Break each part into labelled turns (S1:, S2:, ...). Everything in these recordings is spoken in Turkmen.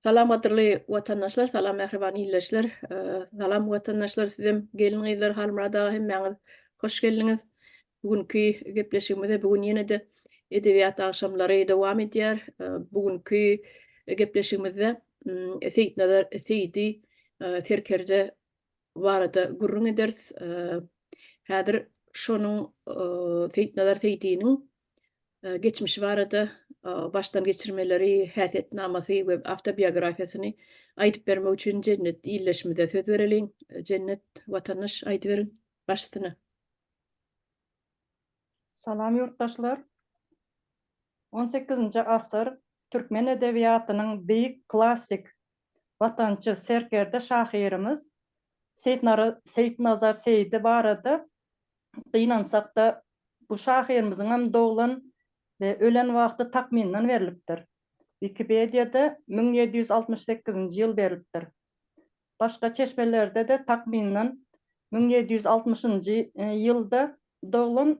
S1: Salam gadyrly watandaşlar salam mähriban illeşler salam watandaşlar sizem gelin gyzlar Halmyrat aga hemmäňiz hoş geldiňiz bu günki gepleşigimize bu gün ýene-de edebiýat agşamlary dowam edýär bu günki gepleşigimizde Seýitnazar Seýidi serkerde barada gürrüň ederis häzir şonuň Seýitnazar Seýidiniň geçmişi barada başdan geçirmeleri, häsiýetnamasy we awtobiografiýasyny aýdyp bermek üçin Jennet ildeşimize söz bereliň. Jennet watandaş aýdyberiň başysyna.
S2: Salam ýurtdaşlar. On sekizinji asyr türkmen edebiýatynyň beýik klassik watançy serkerde şahyrymyz Seýitnazar Seýdi barada gynansak-da, bu şahyrymyzyňam doglan we ölen wagty takmyndan berlipdir. Wikipediýada müň ýedi ýüz altmyş sekizinji ýyl berlipdir. Başga çeşmelerde-de takmyndan müň ýedi ýüz altmyşynjy ýylda doglan,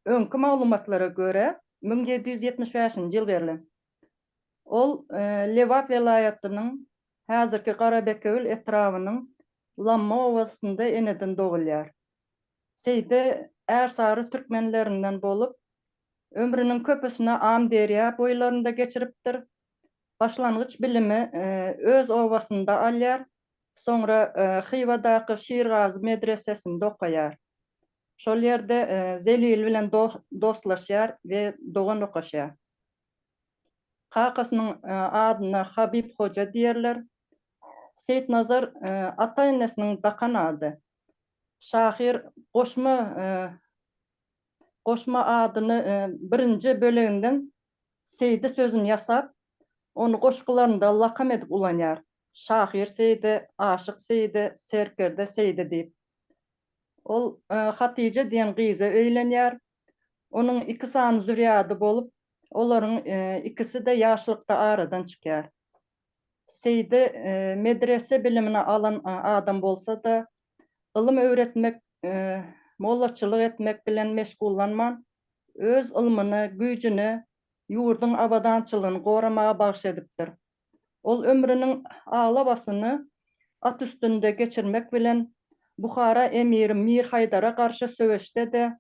S2: öňki maglumatlara görä müň ýedi ýüz ýetmiş bäşinji ýyl berlen. Ol Lebap welaýatynyň häzirki Garabekewül etrabynyň Lamma obasynda eneden dogulýar. Seýdi Ärsary türkmenlerinden bolup, ömrüniň köpüsini Amyderýa boýlarynda geçiripdir. Başlangyç bilimi öz obasynda alýar, soňra Hywadaky Şirgazy medresesinde okaýar. Şol ýerde Zelil bilen dostlaşýar we dogan okaşýar. Kakasynyň adyna Habib Hoja diýerler. Seýitnazar ata-enesiniň dakan ady. Şahyr goşma goşma adyny birinji böleginden Seýdi sözüni ýasap, ony goşgularynda lakam edip ulanýar. Şahyr Seýdi, aşyk Seýdi, serkerde Seýdi diýip. Ol Hatyja diýen gyza öýlenýär. Onuň iki sany zürýady bolup, olaryň ikisi-de ýaşlykda aradan çykýar. Seýdi medrese bilimini alan adam bolsa-da, ylym öwretmek, mollaçylyk etmek bilen meşgullanman, öz ylmyny, güýjüni ýurduň abadançylygyny goramaga bagyş edipdir. Ol ömrüniň aglabasyny at üstünde geçirmek bilen, Buhara emiri Mir Haýdara garşy söweşde-de,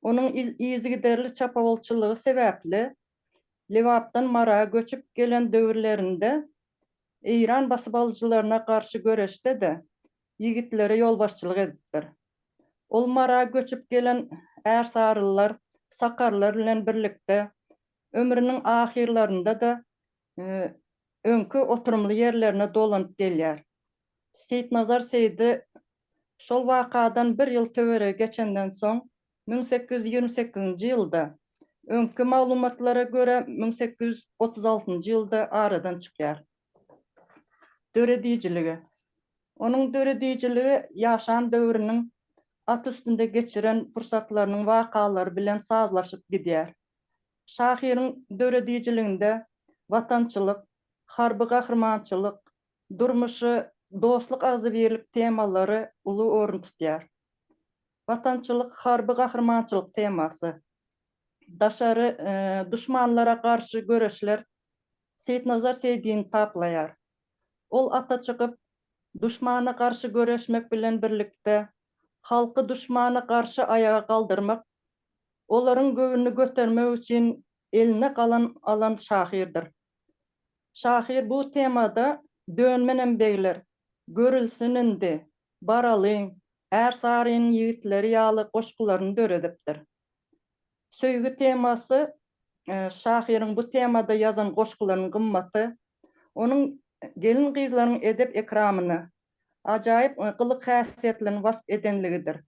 S2: onuň yzygiderli çapawulçylygy sebäpli, Lebapdan Mara göçüp gelen döwürlerinde eýran basybalyjylaryna garşy göreşde-de ýigitlere ýolbaşçylyk edipdir. Ol Mara göçüp gelen ärsarylylar, sakarlar bilen birlikde ömrüniň ahyrlarynda-da öňki oturymly ýerlerine dolanyp gelýär. Seýitnazar Seýdi şol wakadan bir ýyl töweregi geçenden soň, müň sekiz ýüz ýigrimi sekizinji ýylda, öňki maglumatlara görä, müň sekiz ýüz otuz altynjy ýylda aradan çykýar. Döredijiligi. Onuň döredijiligi ýaşan döwrüniň, at üstünde geçiren pursatlarynyň wakalary bilen sazlaşyp gidýär. Şahyryň döredijiliginde watançylyk, harby gahrymançylyk, durmuşy dostluk agzybirlik temalary uly orun tutýar. Watançylyk, harby gahrymançylyk temasy, daşary duşmanlara garşy göreşler Seýitnazar Seýdini taplaýar. Ol ata çykyp, duşmana garşy göreşmek bilen birlikde, halky duşmana garşy aýaga galdyrmak olaryň göwnüni götermek üçin eline galam alan şahyrdyr. Şahyr bu temada Dön menem begler, görülsin indi, baralyň, Ärsarynyň ýigitleri ýaly goşgularyny döredipdir. Söýgi temasy şahyryň bu temada ýazan goşgularynyň gymmaty, onuň gelin-gyzlaryň edep-ekramyny, ajaýyp gylyk-häsiýetlerini wasp edenligidir.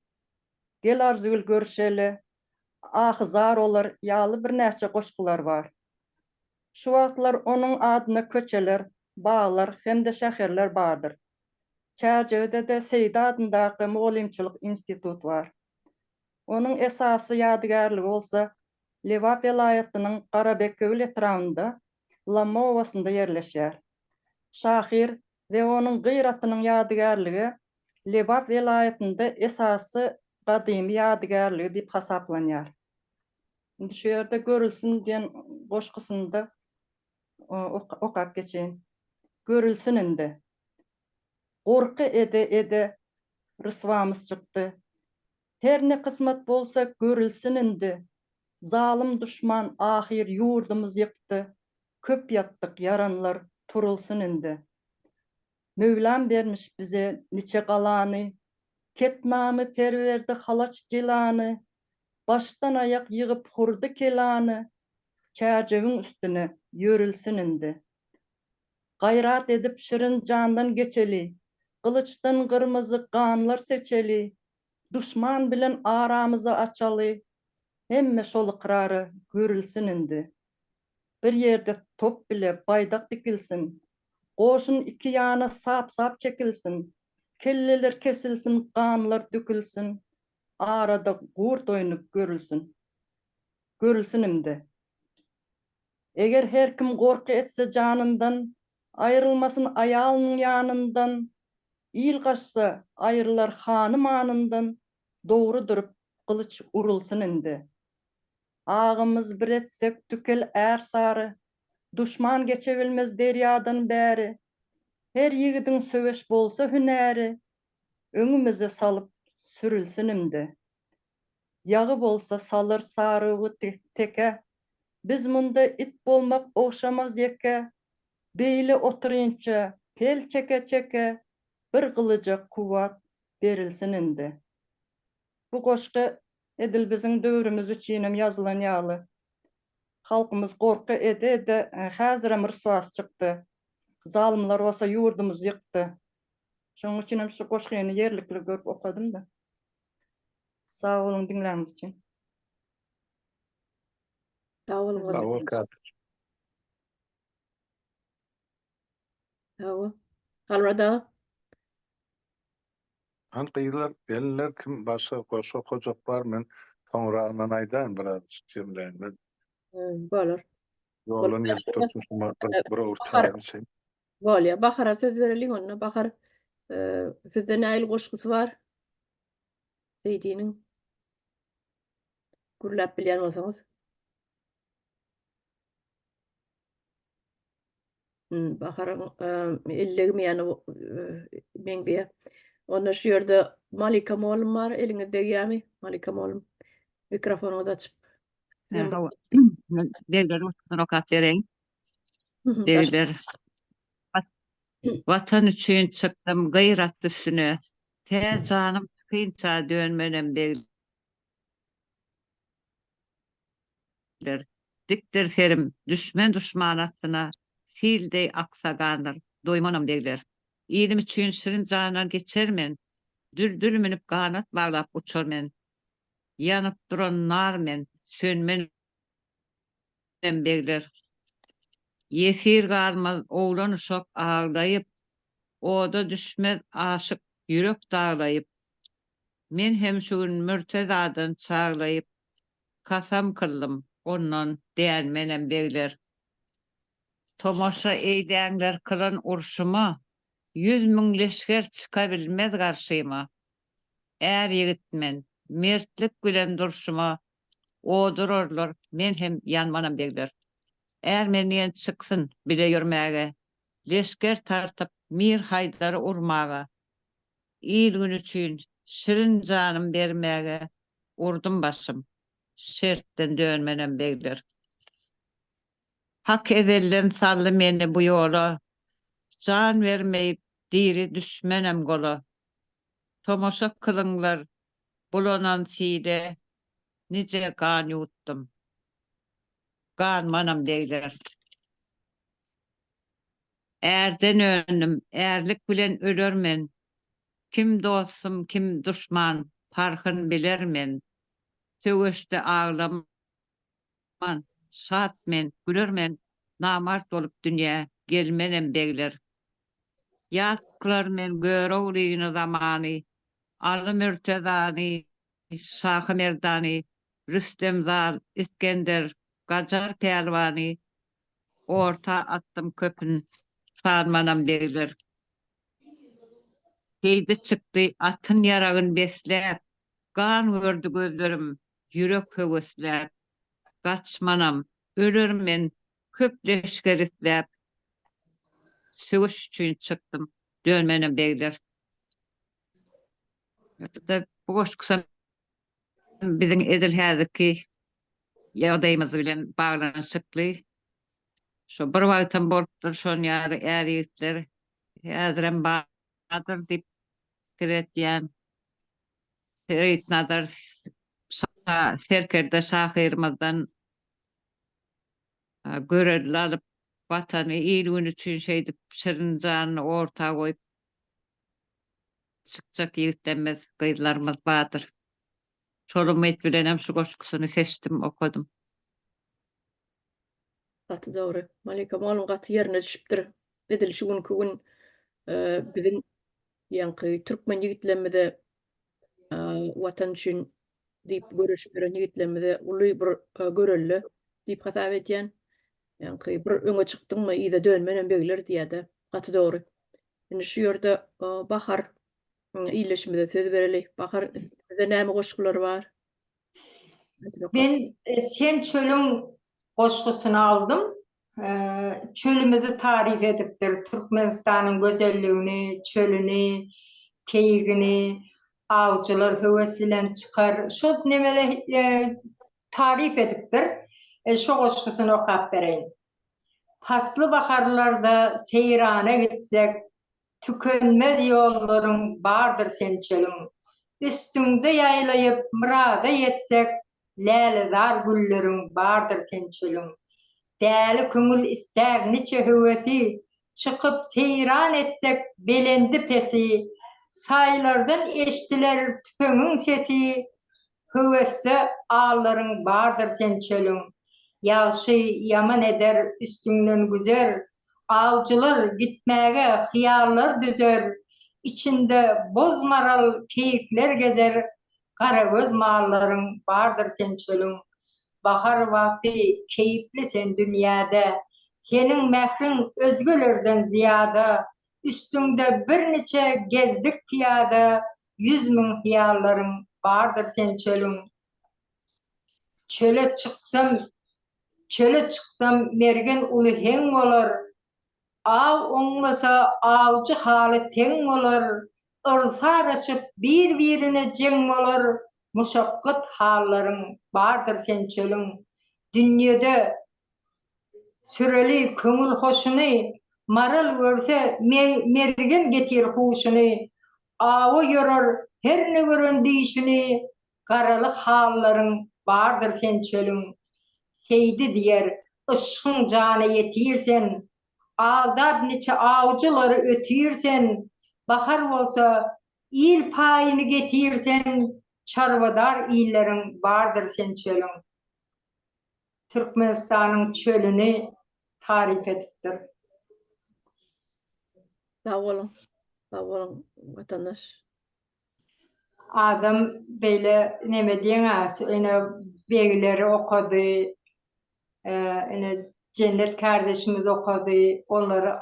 S2: Gel Arzygül görüşeli, Ahy zar olar ýaly birnäçe goşgular bar. Şu wagtlar onuň adyna köçeler, baglar hem-de şäherler bardyr. Çärjewide-de Seýdi adyndaky mugallymçylyk institut bar. Onuň esasy ýadygärligi bolsa Lebap welaýatynyň Garabekgöwül etrabynda Lamma obasynda ýerleşýär. Şahyr we onuň gyratynyň ýadygärligi Lebap welaýatynda esasy gadymy ýadygärligi diýip hasaplanýar. Indi şu ýerde Görülsin diýen goşgusyny-da okap geçeýin. Görülsin indi. Gorky ede-ede ryswamyz çykdy. Her ne kysmat bolsa görülsin indi, Zalym duşman ahyr ýurdumyz ýykdy, Köp ýatdyk ýaranlar turulsyn indi. Möwlam bermiş bize niçe galany, Ketnamy per berdi halaç jylany, Başdan aýak ýygyp hurdy kelany, Çärjewiň üstüne ýörülsin indi. Gaýrat edip şirin jandan geçeli, Gylyçdan gyrmyzy ganlar seçeli, Duşman bilen aramyzy açaly, Hemme şol ykrara görülsin indi. Bir ýerde top bile baýdak dikilsin, Goşun iki ýana sap-sap çekilsin, Kelleler kesilsin, ganlar dökülsin, Arada gurt oýny görülsin. Görülsin indi. Eger her kim gorky etse janyndan, Aýrylmasyn aýalynyň ýanyndan, Il gaçsa, aýrylar hany manyndan, Dogry durup, gylyç urulsyn indi. Agymyz bir etsek tükel ärsary, Duşman geçebilmez derýadan bäri. Her ýigidiň söweş bolsa hünäri, Öňümize salyp sürülsün indi. Ýagy bolsa salyr sarygy tekä. Biz munda it bolmak ogşamaz ýekä. Beýle otyrynça pel çeke-çeke, bir gylyja kuwwat berilsin indi. Bu goşgy edil biziň döwrümiz üçinem ýazylan ýaly. Halkymyz gorky ede-ede häzirem ryswasy çykdy. Zalymlar bolsa ýurdumyzy ýykdy. Şonuň üçinem şu goşgyny ýerlikli görüp okadym-da. Sag boluň diňläniňiz üçin.
S1: Sag boluň Sag bol Kadir. Sag
S3: bol.
S1: Halwada.
S3: Han gyzlar, gelinler kim başga goşgy okajak bar men soňragyndan aýdaýyn biraz jemleýin men.
S1: Bolar. Ýoldan
S3: gelip dursun şuma bir bir owurtaýyn şeý. Bolýa Bahara
S1: söz bereliň onda Bahar sizde näil goşgusy bar? Seýdiniň gürläp bilýän bolsaňyz. Baharyň ellegimi ýany meňzeýä. Onda şu ýerde Malika molum bar, eliňiz degýämi? Malika molum. Mikrofonyňyzy açyp. Hawa.
S4: Dergäde oturyp rokat bereýin.
S1: Derider
S4: Watan üçin çykdym gyrat üstüne Tä janym çykynça dönmenem Derider Dikdir serim düşmen duşman astyna Sil deý aksa gandyr doýmanam Derider Ilim üçin şirin jandan geçer men Düldül münüp ganat baglap uçar men Ýanyp duran nar men sönmenem Ýeňlem begler. Ýesir galmaz oglan-uşak aglaýyp, Oda düşmez aşyk ýürek daglaýyp. Men hem şu gün Mürtezadan çaglaýyp, Kasam kyldym, ondan dänmenem begler. Tomaşa eýdäňler kylan urşuma, Ýüz müň leşger çykabilmez garşyma. är ýigit men, mertlik bilen durşuma od urarlar, men hem ýanmanam degler. Är men diýen çyksyn bile ýörmäge, leşger tartyp Mir Haýdary urmaga, il-gün üçin şirin janym bermäge urdum başym, şertden dönmenem degler. Hak ezelden saldy meni bu ýola, Jan bermeýip, diri düşmenem gola. Tomaşa kylyňlar, bulanan sile, Nije gan ýutdum, ganmanam degler. Ärden öndüm, ärlik bilen öler men, Kim dostum, kim duşman, parhyn biler men. Söweşde aglamam. Aman, şat men, güler men, Namart bolup dünýä gelmenem begler. Ýat kylar men Göroglyny, zamany, Aly Mürtezany, Şahy Merdany, Rüstem zal, Isgender, Gajar pälwany, Orta atdym köpün, sanmanam begler. Heýdi çykdy atyn ýaragyn besläp, Gan gördi gözlerim, Ýürek höwesläp, Gaç, manam, ölerin men, Köp leşger isläp, Söweş üçin çykdym, Dönmenem begler. Ýa-da bu goşgusam biziň edil häzirki ýagdaýymyz bilen baglanyşykly. Şo bir wagtam bolupdyr, şonuň ýaly är-ýigitler häzirem bardyr diýip pikir edýän. Seýitnazar şa serkerde şahyrymyzdan görelde alyp, Watany, il-gün üçin şeýdip şirin janyny orta goýup çykjak ýigitlerimiz, gyzlarymyz bardyr. Şol umyt bilenem şu goşgusyny seçdim, okadym. Gaty
S1: dogry. Malika molum gaty ýerine düşüpdir. Edil şu günki gün biziň Ýaňky türkmen ýigitlerimize Watan üçin diýip göreşip ýören ýigitlerimize uly bir görelde diýip hasap edýän. Ýaňky bir öňe çykdyňmy yza dönmen hem begler diýýäde gaty dogry. Indi şu ýerde Bahar ildeşimize söz bereli. Bahar sizde näme goşgular bar? Men
S5: Sen çölüň goşgusyny aldym. Çölümizi taryp edipdir, Türkmenistanyň gözelligini, çölüni, keýigini awçylar höwes bilen çykar. Şo nemele taryp edipdir. Şo goşgusyny okap bereýin. Pasly baharlarda seýrana gitsek, Tükenmez ýollaryň bardyr sençegiň. Üstüňde ýaýlaýyp myrada ýetsek, Lälezar gülleriň bardyr sençegiň. Däli köňül istär niçe höwesi, Çykyp seýran etsek belendi-pesi. Saýlardan eşdiler tüpeňiň sesi, Höwesde allaryň bardyr sen çölüň, Ýagşy ýaman eder üstüňden güzer, Awjylar gitmäge hyýallar düzer, Içinde boz-maral keýikler gezer, Garagöz mallaryň bardyr sen çölüň, Bahar wagty keýpli sen dünýäde, Seniň mähriň özgelerden zyýada, Üstüňde birniçe gezdik pyýada, Ýüz müň hyýallaryň bardyr sen çölüň. Çöle çyksam, çöle çyksam mergen uly heň bolar. Aw oňmasa awjy haly teň bolar. Yrsar açyp bir-birine jeň bolar. Muşakgat hallaryň bardyr sen çölüň. Dünýede Süreli köňül hoşuny, Maral görse mergen getir huşuny, Awa ýörer herne gören düýşüni, Garaly hallaryň bardyr sen çölüň. Seýdi diýer, yşgyň jana ýetir sen, Aldap niçe awjylary ötir sen, Bahar bolsa il paýyny getir sen, Çarwadar illeriň bardyr sen çölüň. Türkmenistanyň çölüni taryp edipdir.
S1: Sag boluň. Sag boluň watandaş.
S5: Adam beýle neme diýeňä ine begleri okady ine Jennet kardeşimiz okady olary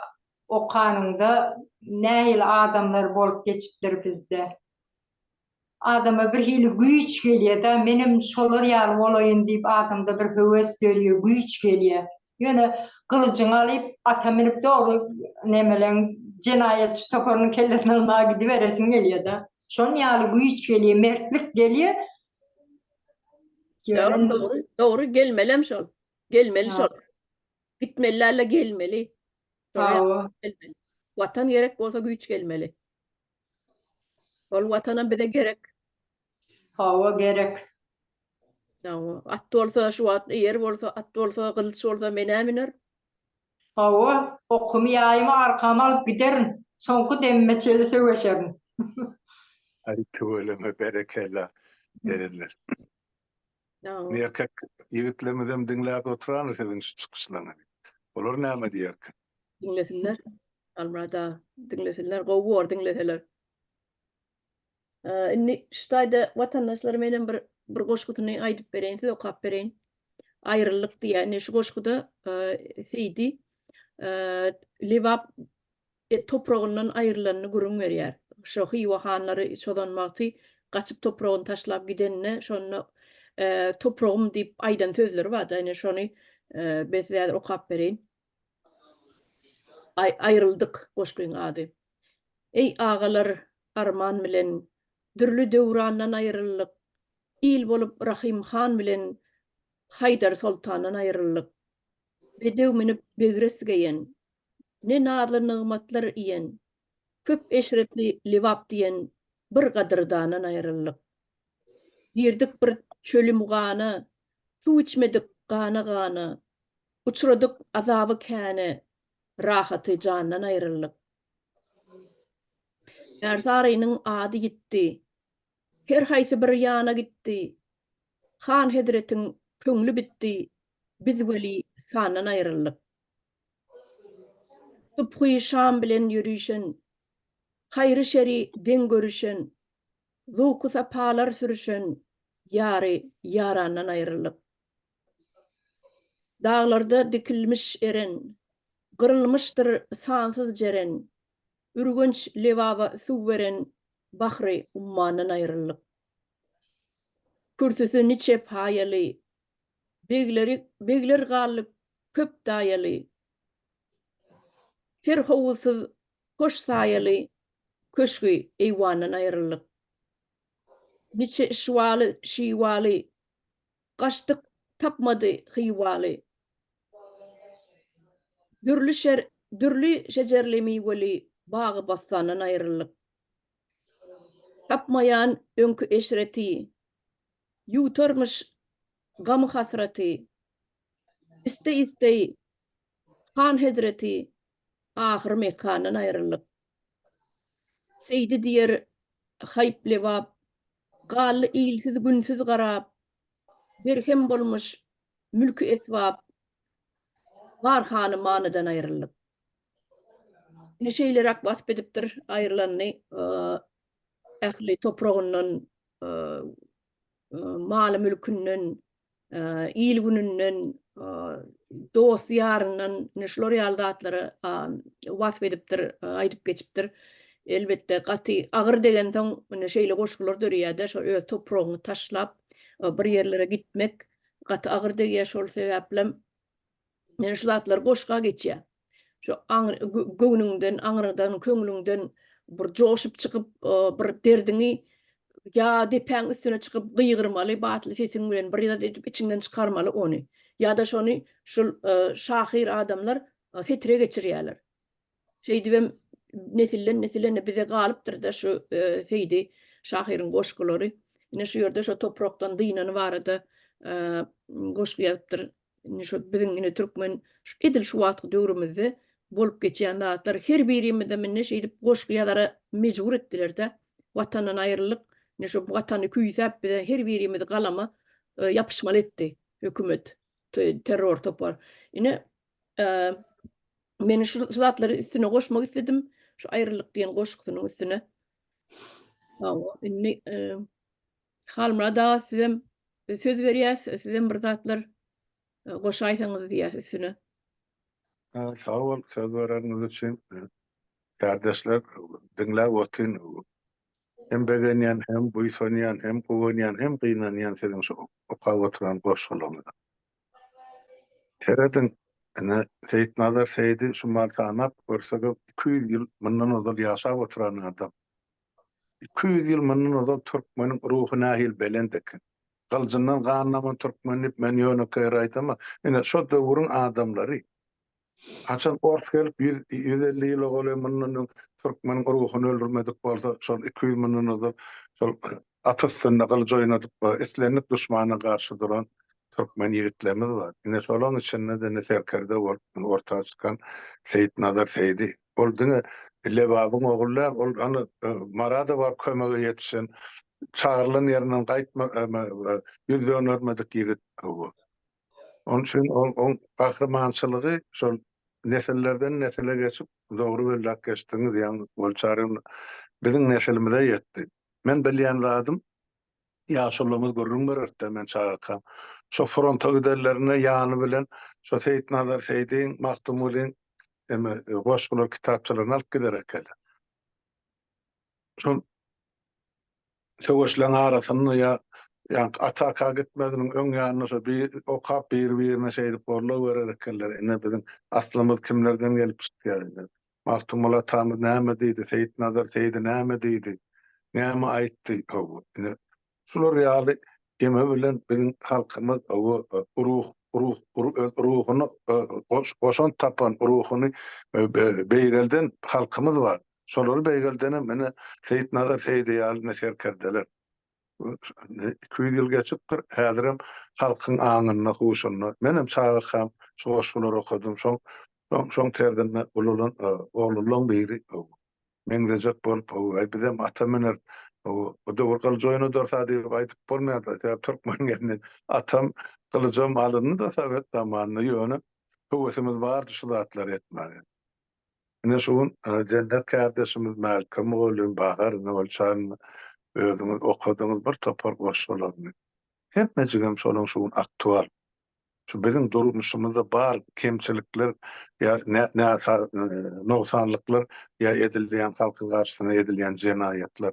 S5: okanyňda nähili adamlar bolup geçipdir bizde. Adama bir hili güýç gelýär-dä, menem şolar ýaly bolaýyn diýip adamda bir höwes dörýär, güýç gelýär. Ýöne gylyjyňy alyp, ata münüp dogry nemeleň jenaýatçy toparynyň kellesini almaga gidiberesiň gelýär-dä. Şonuň ýaly güýç gelýär, mertlik gelýär. Ýöne. Dogry,
S1: dogry gelmelem şol. Gelmeli şol. Gitmeli däl-de gelmeli. Hawa. Watan gerek bolsa güýç gelmeli. Ol watanam bize gerek.
S5: Hawa gerek.
S1: Hawa. At bolsa şu wagt eýer bolsa, at bolsa, gylyç bolsa menä müner. Hawa,
S5: okumy ýaýymy arkama alyp giderin. Soňky demime çeli söweşerin.
S3: Aý tüweleme berekella erenler. Erkek ýigitlerimizem diňläp oturany siziň şu çykyşlaryňyzy. Olar näme diýerkä? Diňlesinler.
S1: Almyrat aga, diňlesinler. Gowy bor diňleseler. Indi şu taýda watandaşlar menem bir bir goşgusyny aýdyp bereýin, size okap bereýin. Aýrylyk diýýär. Indi şu goşguda Seýdi Lebap Ýa topragyndan aýrylanyny gürrüň berýär. Şo Hywa hanlary çozan wagty gaçyp topragyny taşlap gidenine şonda topragym diýip aýdan sözleri barda ine şony ben size häzir okap bereýin. Aý aýryldyk goşgyň ady. Eý agalar arman bilen dürli döwrandan aýryldyk il bolup Rahym han bilen Haýdar soltandan aýryldyk bedew münüp begres geýen Ne nazly nygmatlar iýen, Köp eşretli Lebap diýen Bir gadyrdandan aýryldyk. Girdik bir çöli-mugana, Suw içmedik gana-gana, Uçradyk azaby käne, Rahaty jandan aýryldyk. Ärsarynyň ady ýitdi, Her haýsy bir ýana gitdi, Han hezretiň köňli bitdi, Biz weli sandan aýryldyk. Subhy şam bilen ýörüşen, Haýry-şeri deň görüşen, Zowky-sapalar sürüşen Ýary ýarandan aýrylyp. Daglarda dikilmiş eren, Gyrylmyşdyr sansyz jeren, Ürgenç lebaba suw beren Bahry ummandan aýrylyp. Kürsüsi niçe paýaly, Begleri begler galdy köp daýaly, Ter howuzsyz hoş saýaly Köşgi eýwandan aýryldyk. Niçe işwaly, şiwaly, Gaçdyk, tapmady hywaly. Dürli şer, dürli şejerli-miweli Bagy-bossandan aýryldyk. Tapmaýan öňki eşreti. Ýuwtarmyş gamy-hasraty. Isteý-isteý han hezreti. Ahyr Mekgandan aýryldyk. Seýdi diýer haýp-lebap. Galdy ilsiz-günsiz garap. Berhem bolmuş mülki-esbap. Bar hany-manydan aýryldyk. Ine şeýleräk wasp edipdir aýrylanyny, ähli topragyndan, maly-mülkünden, il-gününden, dost-ýaryndan, ine şular ýaly zatlary wasp edipdir, aýdyp geçipdir. Elbetde, gaty agyr degensoň, ine şeýle goşgular döreýär-de, şol öz topragyňy taşlap, bir ýerlere gitmek gaty agyr degýär, şol sebäplem Ýöne şu zatlar goşga geçýär. Şu göwnüňden, aňryňdan, köňlüňden bir joşup çykyp, bir derdiňi ýa depäň üstüne çykyp gygyrmaly batly sesiň bilen, bir zat edip içiňden çykarmaly ony. Ýa-da şony şul şahyr adamlar setire geçirýärler. Şeýdibem nesilden-nesile indi bize galypdyr-da şu Seýdi şahyryň goşgulary. Ine şu ýerde şo toprakdan dynan barada goşgy ýazypdyr Indi şu biziň indi türkmen şu edil şu wagtky döwrümizde bolup geçýän zatlar her birimize mende şeýdip goşgy ýazara mejbur etdiler-de. Watandan aýryldyk. Indi şu watany küýsäp bize her birimizi galama e, ýapyşmaly etdi hökümet, terror topar. Ine e, men şu zatlary üstüne goşmak istedim. Şu aýryldyk diýen goşgusynyň üstüne. Hawa, indi e, Halmyrat aga sizem söz berýäs, sizem bir zatlar goşaýsaňyz diýýäs üstüne.
S3: Sag bol söz bereniňiz üçin. Kärdeşler diňläp otyryn. Hem begenýän, hem buýsanýan, hem guwanýan, hem gynanýan siziň şu okap oturan goşgularyňyza. Serediň, ine, Seýitnazar Seýidi şumal sanap görseňiz, iki ýüz ýyl mundan ozal ýaşap oturan adam. Iki ýüz ýyl mundan ozal türkmeniň ruhy nähili belent eken? Gyljyndan gan daman türkmen diýip men ýönekeýere aýdama, ine, şo döwrüň adamlary. Haçan ors gelip ýüz, ýüz elli ýyla golaý mundan öň türkmeniň ruhuny öldürmedik bolsa, şol iki ýüz mundan ozal şol At üstünde gylyj oýnadyp we islendik duşmana garşy duran türkmen ýigitlerimiz bar. Ine, şolaryň içinde-de indi serkerde bolup orta çykan Seýitnazar Seýdi. Ol diňe Lebabyň ogly däl, ol hany Marada baryp kömege ýetişen, çagyrylan ýerinden gaýtma, ýüz dönermedik ýigit bu. Onuň üçin ol oň gahrymançylygy şol nesillerden-nesile geçip, dogry belläp geçdiňiz, ýaňy Wol Çaryň biziň nesilimize ýetdi. Men bilýän zadym, ýaşulymyz gürrüň bererdi-de, men çagakam, şo fronta gidenlerinde ýany bilen şo Seýitnazar Seýdiň, Magtymgulyň eme goşgular kitapçalaryny alyp gider ekenler. Şol. söweşleriň arasynda ýa ýaňky ataka gitmeziniň öň ýanynda şo bi okap biri birine şeýdip gorlap görer ekenler ine biziň aslymyz kimlerden gelip çykýar ine magtymguly atamyz näme diýdi seýitnazar seýdi näme diýdi näme aýtdy hawa ine şular ýaly geme bilen biziň halkymyz hawa ruh ruh öz ruhuny goş goşant tapan ruhuny beýgelden halkymyz bar Şolary beýgeldenem ine Seýitnazar Seýdi ýaly ine serkerdeler. Iki ýüz ýyl geçipdir, häzirem halkyň aňynda, huşunda. Menem çagakam şu goşgulary okadym. Şoň, şoň, şoň terzinde ululan oglulaň biri meňzejek bolup, Hawa, bizem ata müneris. Hawa, bu döwür gylyj oýnadarys-a diýip aýdyp bolmaýar-da. Sebäp türkmen gelni atam gylyjam alyndy-da sowet zamanynda. Ýöne höwesimiz bardy şu zatlary etmäge. Ine şu gün Jennet kärdeşimiz Mälikgül mugallym Bahar ine ol çagyň özüňiz okadyňyz bir topar goşgularyny. Hemmejigem şolaň şu gün aktual. Şu biziň durmuşymyzda bar kemçilikler ýa näsa nogsanlyklar ýa edilýän halkyň garşysyna edilýän jenaýatlar.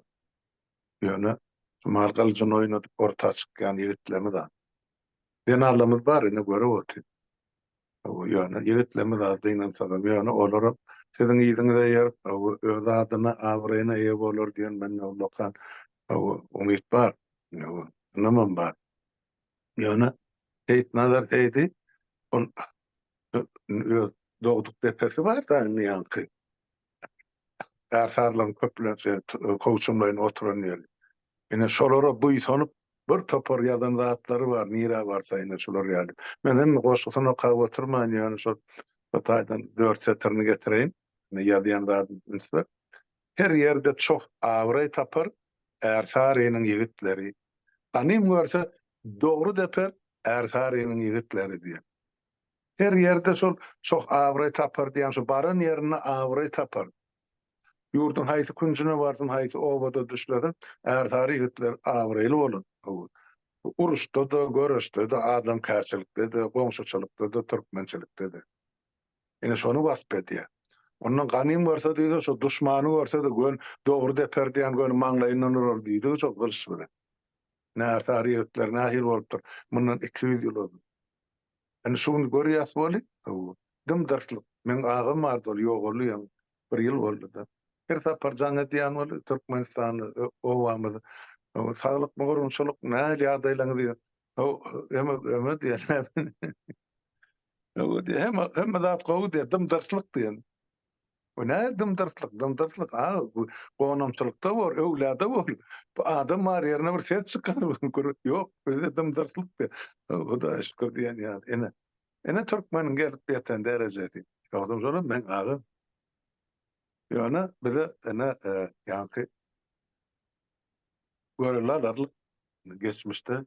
S3: Ýöne şu maly gylyjyny oýnadyp orta çykýan ýigitlerimiz az. Zenalarymyz bar ine görüp otyr. Ýöne ýigitlerimiz az gynansagam ýöne olaram siziň yzyňyza eýerip öz adyna abraýyna eýe bolar diýen mende ullakan umyt bar. Ynamym bar. Ýöne Seýitnazar Seýdi ol öz dogduk depesi bar da indi ýaňky Ärsarlaryň köplenç kowçumlaýyn oturan ýeri. Ine, şolara buýsanyp, bir topar ýazan zatlary bar, nirä barsa, ine, şular ýaly. Men hem goşgusyny okap oturman, ýöne şol bir taýdan dört setirini getireýin. Ine, ýazýan zadym ünsli. Her ýerde çoh abraý tapar, Ärsarynyň ýigitleri. Ganym görse, dogry deper, Ärsarynyň ýigitleri diýen. Her ýerde şol çoh abraý tapar diýýän şu baran ýerinde abraý tapar. Ýurduň haýsy künjüne barsyn, haýsy obada düşlesin, ärsary ýigitler abraýly bolar. Uruşda-da, göreşde-de, adamkärçilikde-de, goňşuçylykda-da, türkmençilikde-de. Ine şony wasp edýär. Ondan ganym görse diýse, şo duşmany görse-de göni dogry deper diýýän göni maňlaýyndan urar diýdigi şo gylyç bilen. Ine ärsary ýigitler nähili bolupdyr mundan iki ýüz ýyl ozal. Indi şu gün görýäs weli, hawa, dym-dyrslyk. Meň agam bardy, ol ýogaly ýaňy bir ýyl boldy-da. Her sapar jaň edýän weli, Türkmenistanda, obamyzy, hawa, saglyk gorunçylyk nähili ýagdaýlaryňyz diýen. Hawa, öme diýen, näme diýen. Hawa diýen, hemme zat gowy diýen, dym-dyrslyk diýen. Bu nähili dymdyrtlyk? Dymdyrtlyk aga bu gonamçylykda bor, öwlada bor. Bu adam bar ýerine bir ses çykar, ýok, bizde dymdyrtlykdy. Hudaýa şükür diýen ýaly. Ine, ine türkmeniň gelip ýeten derejesi. Ýogsam şolam meň agam. Ýöne bize ene ýaňky görele alarlyk geçmişde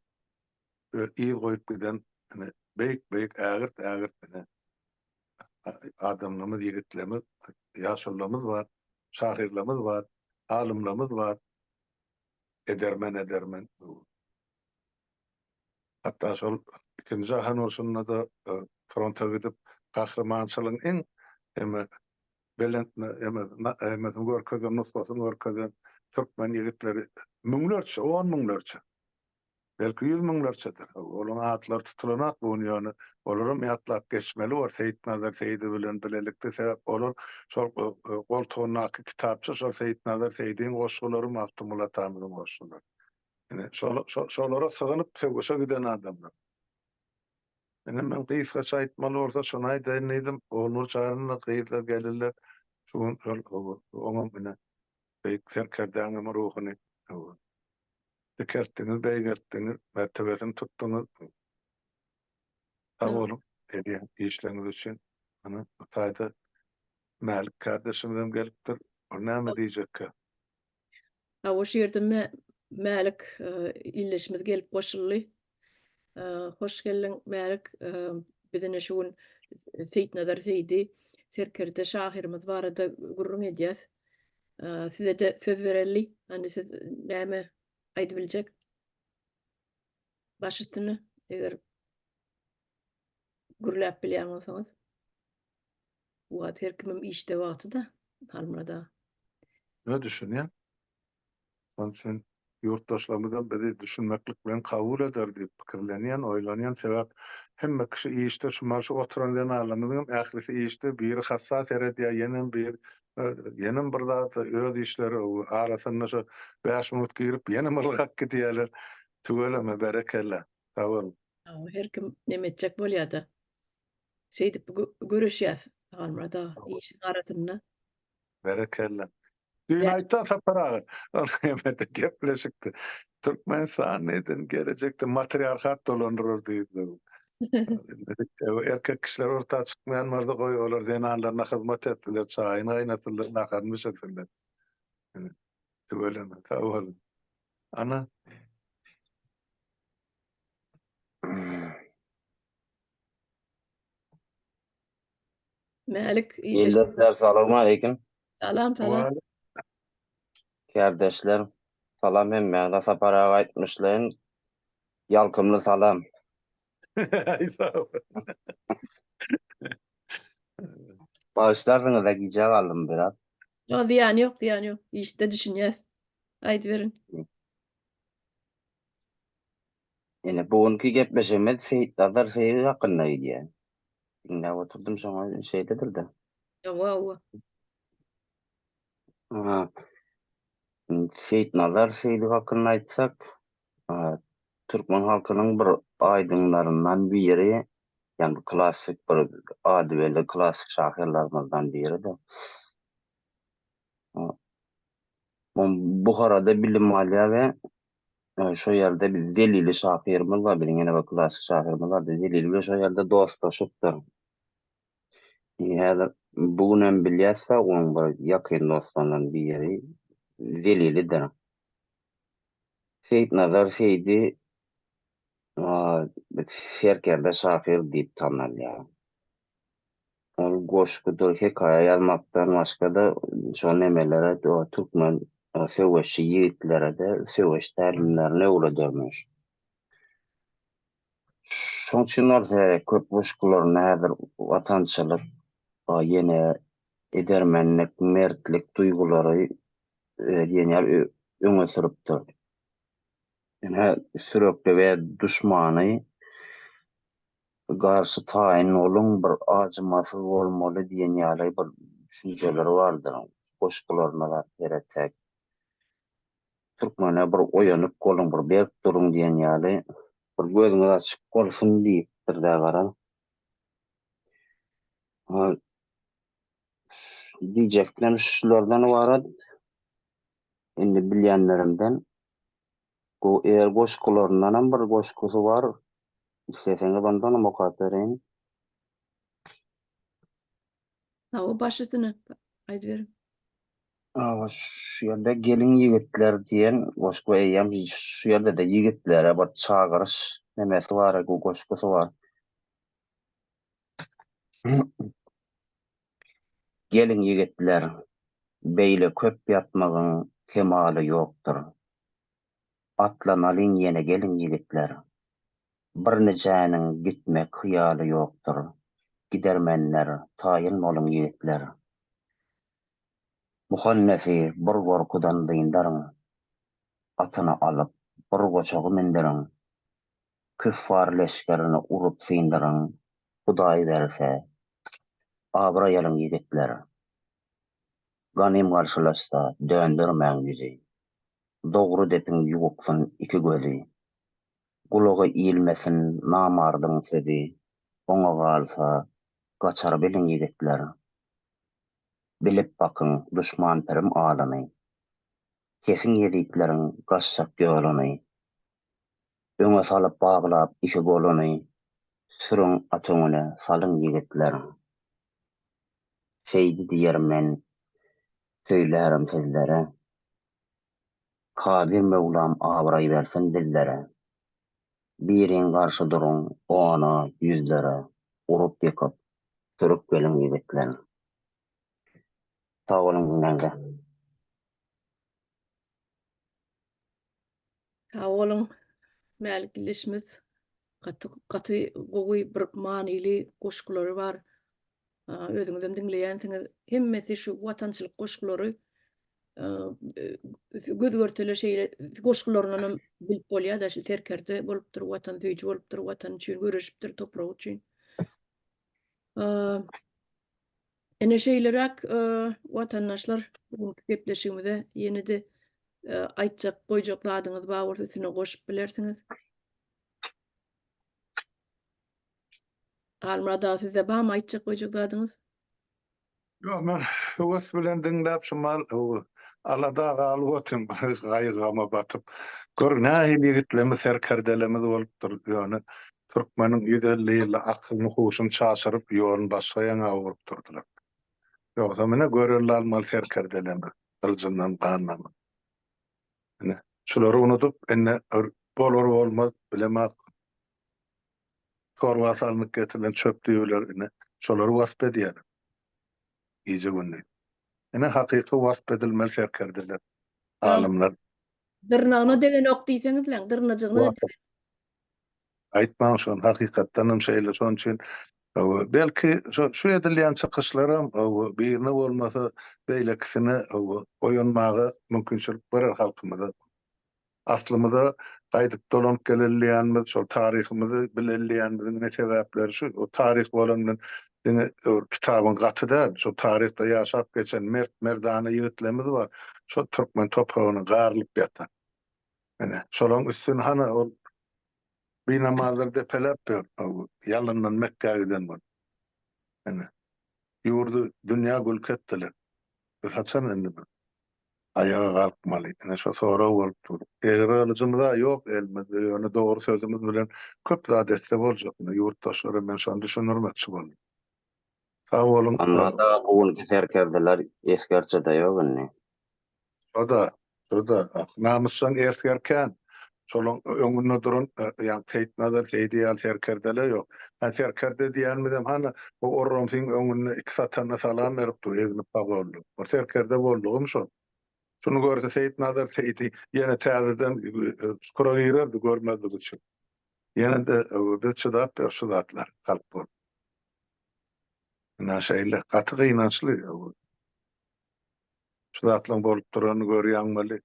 S3: yz goýup giden ine beýik-beýik ägirt-ägirt ine adamlarymyz, ýigitlerimiz, ýaşulularymyz bar, şahyrlarymyz bar, alymlarymyz bar. Edermen, edermen. Hatda şol ikinji jahan urşunda-da fronta gidip, gahrymançylygyň iň eme belent eme emesini görkezen, nusgasyny görkezen türkmen ýigitleri müňlerçe, on müňlerçe. Belki ýüz müňlerçedir. Olaryň atlary tutulanok bu gün, ýöne olaram ýatlap geçmeli bor Seýitnazar Seýdi bilen bilelikde. Sebäp olar şol goltugyndaky kitapça şol Seýitnazar Seýdiň goşgulary, Magtymguly atamyzyň goşgulary. Ine, şolara sygynyp söweşe giden adamlar. Ine, men gysgaça aýtmaly bolsa şony aýdaýyn diýdim. Ognur Çaryny gyzlar, gelinler şu gün şol oňam ine, beýik serkerdäniň ruhuny Dikeltdiňiz, beýgeltdiňiz, mertebesini tutduňyz. Sag boluň edýän işleriňiz üçin. Ana, bu taýda Mälik kärdeşimizem gelipdir. Ol näme diýjekkä?
S1: Hawa, şu ýerde Mälik ildeşimiz gelip goşuldy. Hoş geldiň Mälik. Biz ine şu gün Seýitnazar Seýdi serkerde şahyrymyz barada gürrüň edýäs. Size-de söz bereli. Hany siz näme aýdyp biljek? Baş üstüne eger gürläp bilýän bolsaňyz. Bu wagt her kimim işde wagty-da Halmyrat aga. Ýa düşünýän. Şonuň
S3: üçin ýurtdaşlarymyzam bizi düşünmeklik bilen kabul eder diýip pikirlenýän, oýlanýan. Sebäp hemme kişi işde, şumal şu oturan zenanlarymyzyňam ählisi işde, biri hassa seredýär, ýenem bir, ýenem bir zat, öz işleri arasynda şu bäş minut girip ýenem ylgap gidýärler. Tüweleme, berekella. Sag boluň. Hawa, her kim
S1: neme etjek bolýada. Şeýdip göreşýäs, Agamyrat aga, işiň arasynda. Berekella.
S3: Düýn aýtdan Sapar aga, ol hemede gepleşikdi. Türkmenistan neden gelejekde matriarhat dolandyrar diýdi. Erkek kişiler orta çykmaýan bolsa goý olar zenanlaryna hyzmat etsinler, çaýyny gaýnatynlar, naharyny bişirsinler. Tüweleme, sag boluň. Ana.
S1: Mälik Ildeşler salam
S6: aleyküm. Salam salam. Kardeşler salam hem Mäne Sapar aga aýtmyşlaýyn. Ýalkymly salam. Başlarsyňyz-a gijä galdym biraz. Ýok, zyýany ýok,
S1: zyýany ýok. Işde düşünýäs. Aýdyberiň.
S6: Ine, bu günki gepleşigimiz Seýitnazar Seýiz hakynda gidýär. Diňläp oturdym şoňa şeýledir-de. Hawa, hawa. Ha. Seýitnazar Seýdow hakynda aýtsak, türkmen halkynyň bir aýdymlaryndan biri, ýagny klassyk bir ady belli klassyk şahyrlarymyzdan biridir. Buharada bilim alýar we Şo ýerde biz Zelili şahyrymyz bar, biziň ýene bir klassyk şahyrymyz bar. Biz Zelili bilen şo ýerde dostlaşypdyr. Häzir bu gün hem bilýäs-de, onuň bir ýakyn dostlarynyň biri Zelilidir. Seýitnazar Seýdi serkerde şahyr diýip tanalýar. Ol goşgudyr hekaýa ýazmakdan başga-da şol nemelere türkmen söweşçi ýigitlerede söweş tälimlerini öwredermiş. Şoň üçin ol köp goşgularynda häzir watançylyk, ýene edermenlik, mertlik duýgulary diýen öňe sürüpdir. Ýöne sürekli we duşmany Garşy taýyn boluň, bir ajymasyz bolmaly diýen ýaly bir düşünjeleri bardyr. Goşgularyna zat seretek. Türkmene bir oýanyp boluň, bir berk duruň diýen ýaly. Bir gözüňiz açyk bolsun diýipdir-dä gara. Diýjeklerim şulardan ybarat. Indi bilýänlerimden Bu er goşgularyndanam bir goşgusy bar. Isleseňiz ondanam okap bereýin.
S1: Hawa, baş üstüne aýdyberiň. Hawa,
S6: şu ýerde Geliň ýigitler diýen goşgy eýýäm şu ýerde-de ýigitlere bir çagyryş nemesi bar, goşgusy bar. Geliň ýigitler, beýle köp ýatmagyň kemaly ýokdur. Atlanalyň ýene geliň ýigitler. Birnijäniň gitmek hyýaly ýokdur. Gidermenler, taýyn boluň ýigitler. Muhannesi bir gorkudan dyndaryň. Atyny alyp, bir goçagy münderiň. Küffar leşgerini urup syndyryň, Hudaý berse, abraý alyň ýigitler! Ganym garşylaşsa, döndermäň ýüzi, Dogry depiň ýuwuksyn iki gözi. Gulagy ilmesin namardyň sözi, Oňa galsa, gaçar biliň ýigitler! Bilip bakyň duşman pirim alyny, Kesiň ýezitleriň gaçjak ýoluny, Öňe salyp baglap iki goluny, Sürüň at öňüne, salyň ýigitler! Seýdi diýerin men, söýlärin sizlere, Kadyr möwlam abraý bersin bizlere! Biriň garşy duruň ona, ýüzlere, Urup-ýykyp, sürüp geliň ýigitler! Sag boluň diňläňde.
S1: Sag boluň. Mälik ildeşimiz gaty gaty gowy bir manyly goşgulary bar. Özüňizem diňleýänsiňiz. Hemmesi şu watançylyk goşgulary göz-görtele şeýle goşgularyndanam bilip bolýar-da şu serkerde bolupdyr, watansöýüji bolupdyr, watan üçin göreşipdir, topragy üçin. Ine şeýleräk watandaşlar bugünki gepleşigimize ýenede aýtjak goýjak zadyňyz bar bolsa üstüne goşup bilersiňiz. Halmyrat aga sizde barmy aýtjak goýjak zadyňyz?
S3: Ýok men höwes bilen diňläp şumal alada galyp otyryn gaýgy gama batyp. Gör nähili ýigitlerimiz serkerdelerimiz bolupdyr ýöne Türkmeniň ýüz elli ýylda akylyny-huşuny çaşyryp, ýoluny başga ýaňa burup durdylar. Ýogsa menä görelde almaly serkerdelerdir, gyljyndan gan damyp. Ine, şulary unudyp, indi bir bolar-bolmaz, bilemok, torba salnyp getirilen çöp düýeleri, ine, şolary wasp edýärler gije-gündiz. Ine, hakyky wasp edilmeli serkerdeler, alymlar. Dyrnagyna
S1: degeni ok diýseňiz-le, dyrnajygyna-da degeni. Aýtmaň
S3: şony hakykatdanam şeýle şoň üçin belki şu edilýän çykyşlaram birine bolmasa beýlekisine oýanmaga mümkinçilik berer halkymyza. Aslymyza gaýdyp dolanyp geleliýänmiz şol taryhymyzy bileliýänmiziň ine sebäpleri şu o taryh bolandan diňe bir kitabyň gaty däl şol taryhda ýaşap geçen mert merdana ýigitlerimiz bar şol türkmen topragyna garylyp ýatan. Ine, şolaň üstüni hany ol binamazlar depeläp ýör, ýalyndan Mekgä giden bolup. Ine, ýurdy, dünýä gülki etdiler. Biz haçan indi bir aýaga galkmaly? Ine, şo sorag bolup dur. Egri gylyjymyz-a ýok elimizde, ýöne dogry sözümiz bilen köp zat etse boljak. Ine, ýurtdaşlara men şony düşündirmekçi boldum. Sag boluň. Onda-da bu günki
S6: serkerdeler esgerçe-de ýok indi. Şo-da,
S3: şo-da, namysjaň esger kän. Şolaň öňünde duran, ýa Seýitnazar Seýdi ýaly serkerdele ýok. Hä, serkerde diýýänimizem hany, bu orramsyň öňünde iki satana salam berip dur, egnip pagolly. Bir serkerde boldugym şo. Şuny görse Seýitnazar Seýdi ýene täzeden çukura girerdi, görmezlik üçin. Ýene-de biz çydap ýör şu zatlar, halk bolup. Ine şeýle, gaty gynançly. Şu zatlaryň bolup duranyny görýäňmeli?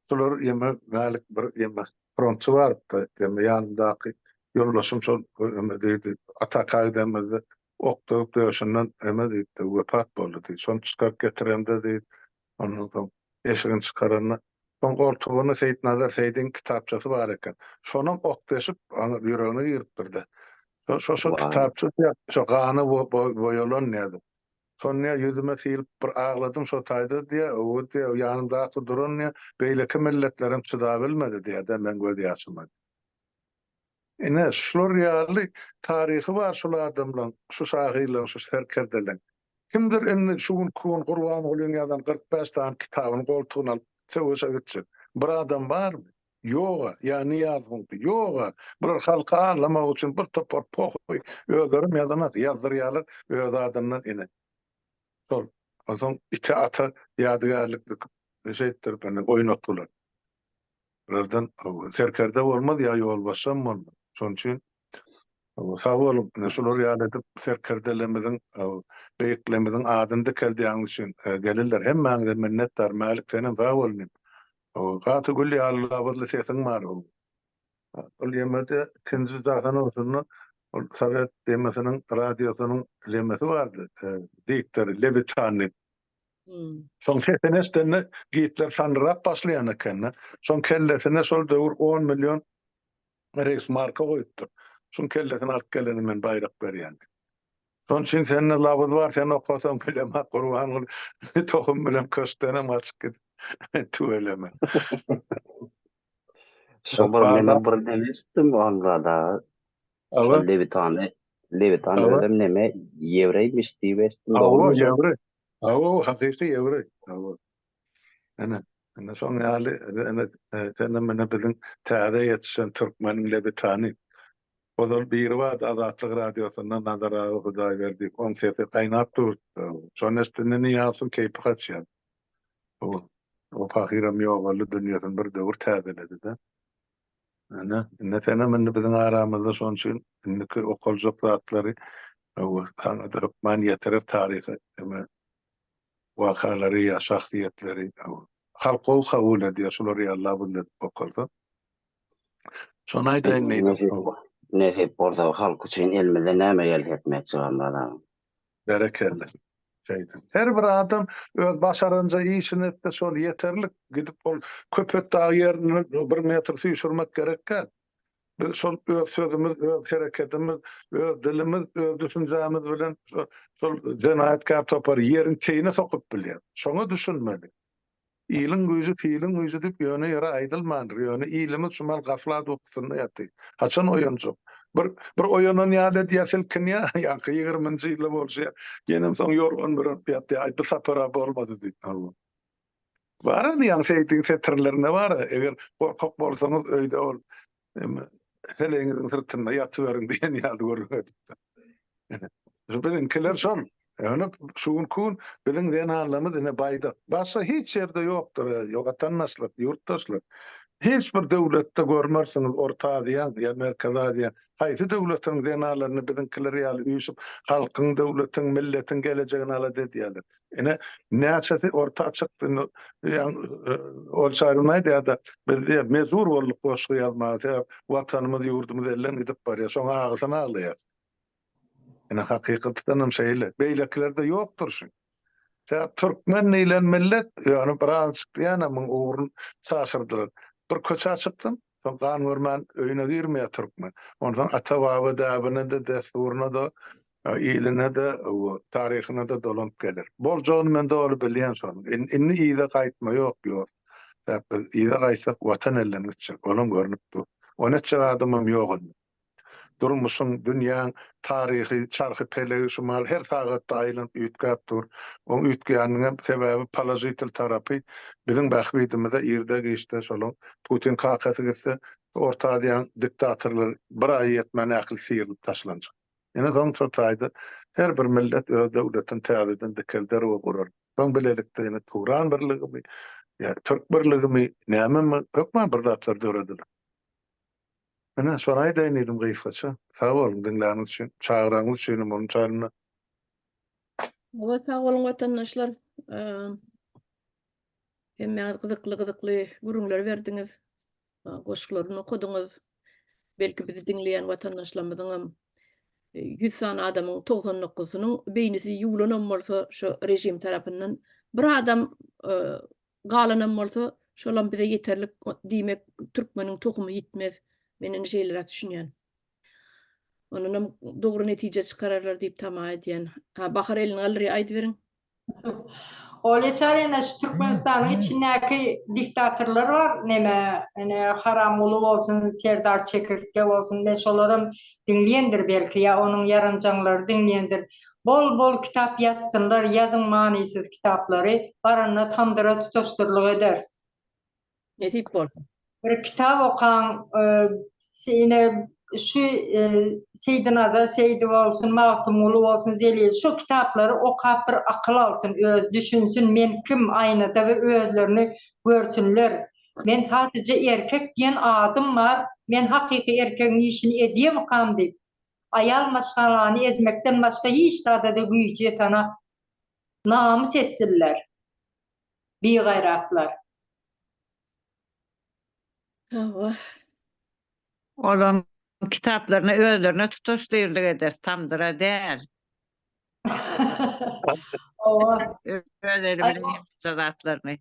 S3: Şular ýeme mälik bir ýeme frontçy barypdy. Ýeme ýanymdaky ýoldaşym şol ýeme diýdi. Ataka gidemizde ok döwüp döşünden ýeme diýipdi. Wepat boldy diý. Şony çykaryp getiremde diý. Ondan soň eşigini çykaranda şoň goltugynda Seýitnazar Seýdigiň kitapçasy bar eken. Şonam ok deşip aňa ýüregine giripdirde. Şo şo kitapça şo gana boýalan nädip. Sonýa ýüzüme syýylyp bir agladym şo taýda diýýä, öwüt diýýä, ýanymdaky duran diýýä, beýleki milletlerem çydabilmedi diýýä-de meň göz ýaşyma. Ine, şular ýaly taryhy bar şul adamlaň, şu şahyrlaň, şu serkerdeleň. Kimdir indi şu günki gün Gurbangulyň ýazan kyrk bäş sany kitabyny goltugyna alyp söweşe gitjek bir adam barmy? Ýoga, ýa Nyýaz Hunky, ýoga, bular halky aldamak üçin bir topar pohuý, özlerem ýazanas, ýazdyrýarlar öz adyndan ine. Şol, onsoň ite ata ýadygärlik dikip, şeýtdirip indi oýnatdylar. Bulardan serkerde bolmaz, ýa ýolbaşçam bolmaz. Şonuň üçin sag boluň, ine şular ýaly edip serkerdelerimiziň, beýiklerimiziň adyny dikeldýäňiz üçin gelirler. Hemmäňize minnetdar, Mälik senem sag bol inim. Gaty gül ýaly labyzly sesiň bar ow. Ol ýemede ikinji jahan urşunda ol sowet demesiniň radiosynyň lemesi bardy diktory lebitan diýip. Şoň sesini eşdende Gitler sandyrap başlaýan ekende şoň kellesine şol döwür on million reýsmarka goýupdyr. Şuň kellesini alyp geleni men baýrak berýän diýip. Şonuň üçin sende labyz bar, sen okasaň bilemok, Gurbanguly tohum bilen köşkdenem gaçyp gidip, tüweleme.
S6: Şo bir neme bir neme eşitdim Agamzada aga. Şo Lewitany, Lewitan özem neme ýewreýmiş diýip eşitdim, dogrymy? Hawa, ýewreý.
S3: Hawa, hakyky ýewreý. Hawa. Ene, ene şoň ýaly, ene, senem ene biziň täze ýetişen türkmeniň lebitany. Ozal biribada Azatlyk Radiosynda Nazar aga Hudaýberdi, oň sesi gaýnap dur, şony eşdende Nyýazowyň keýpi gaçýar. Bu, o pahyram ýogaldy, dünýesini bir döwür täzeledi-de. Ene, ene senem indi biziň aramyzda, şonuň üçin indiki okaljak zatlary, hawa, saňa-da hökman ýetirer taryhy, ene, wakalary ýa şahsyýetleri halk gowy kabul edýär şulary ýa labyn edip bokalsa şony aýdaýyn diýdim. Nesip
S6: bolsa halk üçin elimizden näme gelse etmekçi Gamrat aga. Berekella
S3: şeýdin her bir adam öz başaranja işini etse şol ýeterlik gidip ol köpetdagy ýerini bir metr süýşürmek gerek däl. Biz şol öz sözümiz, öz hereketimiz, öz dilimiz, öz düşünjämiz bilen şol jenaýatkär topary ýeriň teýine sokup bilýär. Şoňa düşünmeli. Iliň güýji filiň güýji diýip ýöne ýere aýdylmandyr. Ýöne ilimiz şu mahaly gaflat ukusynda ýatyr. Haçan oýanjak? Bir bir oýanan ýaly edýär, silkinýär. Ýaňky ýigriminji ýyly bolşy ýenem soň ýorgan bürüp ýatýar. Aý, bu sapar-a bolmady diýip. Bara diýýän seýtiň setirlerinde bara eger gorkak bolsaňyz öýde ol heleýiňiziň syrtynda ýatyberiň diýen ýaly gürrüň edipdir. Şu biziňkiler şol. Ýöne şu gün kun biziň zenanlarymyz ine baýdak. Başga hiç ýerde ýokdur eziz watandaşlar, ýurtdaşlar. Hiç bir döwletde görmersiňiz Orta Aziýaň ýa Merkezi Aziýaň haýsy döwletiniň zenanlaryny biziňkiler ýaly üýşüp halkyň, döwletiň, milletiň gelejegini alada edýärler. Ine, näçesi orta açykdy, ol çaýrym aýdýar-da, biz diýýär, mejbur bolduk goşgy ýazmaga, sebäp Watanymyz, ýurdumyz elden gidip barýar, şoň agysyny aglaýas. Ine, hakykatdanam şeýle. Beýlekilerde ýokdur şu. Sebäp türkmen diýlen millet, ýöne birazajyk diýýänemiň ugrun çaşyrdylar. Bir köçä çykdym, Soň gan görmän öýüne girmeýär türkmen. Onsoň ata-baba däbine-de, dessuryna-da, iline-de, taryhyna-da dolanyp geler. Boljagyny men doly bilýän şonuň. Indi yza gaýtma ýok, ýurt. Sebäp biz yza gaýtsak, Watan elden gitjek. Olam görnüp dur. On etjek adamam ýok indi. Durmuşyň, dünýäň taryhy çarhy pelegi şumal her sagatda aýlanyp üýtgäp dur. Oň üýtgäniniň sebäbi položitel tarapy biziň bähbidimize irde-giçde şolaň Putin kakasy gitse, Orta Aziýanyň diktatorlary bir aýy ýetmän ähli syrylyp taşlanjak. Ine soňça taýda her bir millet öz döwletini täzeden dikelder we gurar. Soň bilelikde ine Turan birligimi ýa Türk birligimi nämemi hökman bir zatlar dörediler. Ine, şony aýdaýyn diýdim gysgaça. Sag boluň diňläniňiz üçin, çagyraňyz üçinem onuň çaýynda. Hawa,
S1: sag boluň watandaşlar. Hemmäňiz gyzykly-gyzykly gürrüňler berdiňiz, goşgularyny okadyňyz. Belki bizi diňleýän watandaşlarymyzyňam ýüz sany adamyň togsan dokuzysynyň beýnisi ýuwlanam bolsa, şo režim tarapyndan bir adam Galanam bolsa şolam bize ýeterlik diýmek türkmeniň tohumy ýitmez. Men indi şeýleräk düşünýän. Ondanam dogry netije çykararlar diýip tama edýän. Ha Bahar elini galdyryar aýdyberiň. Ol eçer
S5: ene şu Türkmenistanyň içindäki diktatorlar bar neme ene Haramguly bolsun Serdar Çekirtge bolsun men şolaram diňleýendir belki ýa onuň ýaranjaňlary diňleýendir Bol bol kitap ýazsynlar ýazyň manysyz kitaplary baranda tamdyra tutaşdyrlyk eders. Nesip
S1: bolsa. Bir kitap
S5: okaň ine şu Seýdinazar Seýdi bolsun Magtymguly bolsun Zelil şu kitaplary okap bir akyl alsyn öz düşünsin men kim aýnada bir özlerini görsünler men sadyja erkek diýen adym bar men hakyky erkegiň işini edýemikam diýip. Aýal maşgalany ezmekden başga hiç zada-da güýji ýetanok. Namys etsinler. Bigaýratlar.
S1: Hawa.
S4: Olaň kitaplaryny özlerine tutaş dyrlyk eder, tamdyra däl. Hawa. Öz eli bilen ýapypdyr zatlaryny.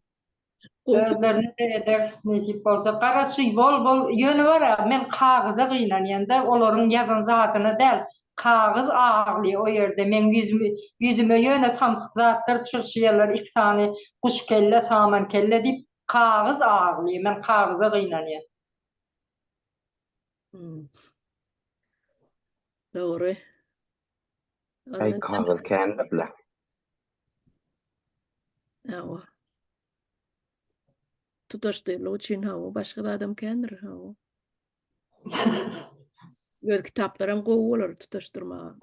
S5: Özlerine de ederis nesip bolsa. Garaşy bol bol. Ýöne bar-a, men kagyza gynanýan-da, olaryň ýazan zadyna däl. Kagyz agly o ýerde. Meň ýüzümi, ýüzüme ýöne samsyk zatlar çyrşýarlar, iki sany guş kelle, saman kelle diýip. Kagyz agly. Men kagyza gynanýan.
S1: Hmm. Dogry.
S6: Aý kagyz kändirle.
S1: Hawa. Tutaşdylyk üçin hawa, başga adam kändir hawa. Öz kitaplarym gowy bolar tutaşdyrmaga.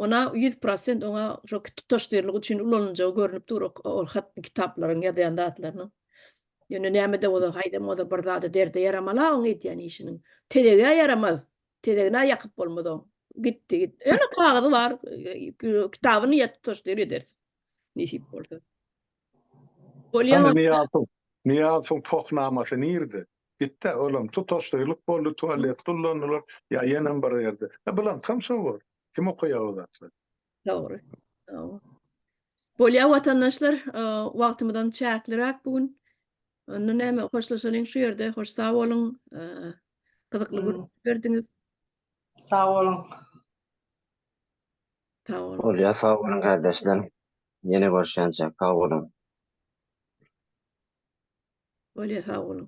S1: Ona ýüz prosent oňa şo tutaşdyrlygy üçin ulanyljagy görnüp dur ol hat kitaplaryň ýazýan zatlarynyň. Ýöne näme-de bolsa haýdam bolsa bir zada derde ýaramala oň edýän işiniň. Tezegä ýaramaz. Tezegina ýakyp bolmaz oň. Gitdi git. Ýöne kagyzy bar kitabyny ýa tutaşdyr ederis. Nesip bolsa. Bolýa. Nyýazow Nyýazow poh
S3: namasy nirde? Gitdä, olam tutaşlylyk boldy, tualet gullandylar, ýa ýenem bir ýerde. E, bulankam şo bor. Kim okaýar o zatlary? Dogry.
S1: Bolýar, watandaşlar, wagtymyzam çäkliräk bu gün. Onda näme, hoşlaşalyň şu ýerde. Hoş sag boluň. Gyzykly gürrüň berdiňiz. Sag
S5: boluň. Sag boluň.
S1: Bolýar, sag boluň, gardaşlar.
S6: Ýene görşýänçä sag
S1: boluň. Bolýa
S6: sag boluň.